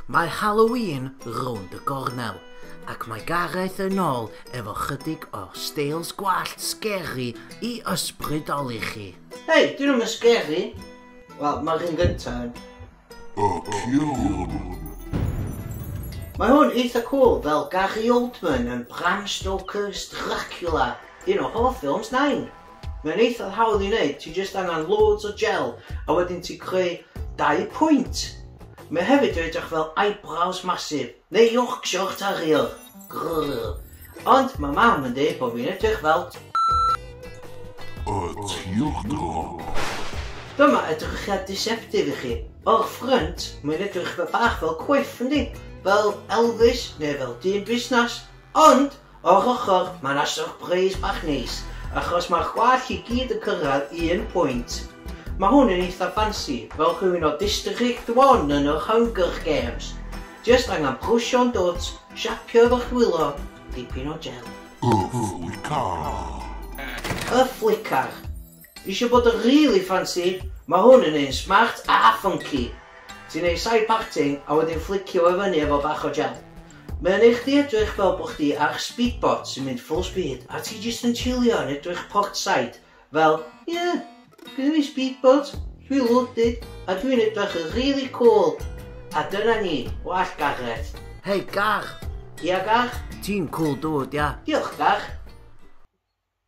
Mae Halloween rownd y gornel, ac mae Gareth yn ôl efo chydig o steils gwallt sgeri i ysbrydoli chi. Hei, dyn nhw'm yn sgeri! Wel, mae'r un gynta yn. A ciwn! Mae hwn eitha cŵl fel Gary Oldman yn Bram Stoker's Dracula, un o hoff ffilms Nain! Mae'n eitha hawdd i wneud, ti jyst angen loads o gel a wedyn ti creu dau pwynt. Mae hefyd yn edrych fel eyebrows masif, neu Yorkshire Terrier. Grrr. Ond mae mam yn dweud bod fi'n edrych fel... Y tiwch drwg. Dyma edrychiad deceptive i chi. O'r ffrynt, mae'n edrych bach fel cwiff, yndi? Fel Elvis neu fel dyn busnes. Ond, O'r ochr, mae yna syrpreis bach neis, achos mae'r gwallt i gyd yn cyrraedd un pwynt. Mae hwn yn eitha ffansi, fel rhywun o District One yn yr Hunger Games. Jyst angen brwsio'n dwt, siapio efo'ch dwylo, dipyn o jel. Y Flicar. Y Flicar. Isio bod yn rili ffansi? Mae hwn yn un smart a ffynci! Ti'n neud side parting a wedyn fflicio fo i fyny efo bach o gel. Mae o'n neud chdi edrych fel bod chdi ar speedboat sy'n mynd full speed a ti jyst yn chillio yn edrych portside fel Ie, gynna fi speedboat, dwi loaded a dwi'n edrych yn rili cwl! A dyna ni, wallt Gareth. Hei Garth! Ia Garth? Ti'n cwl dude ia. Diolch Garth.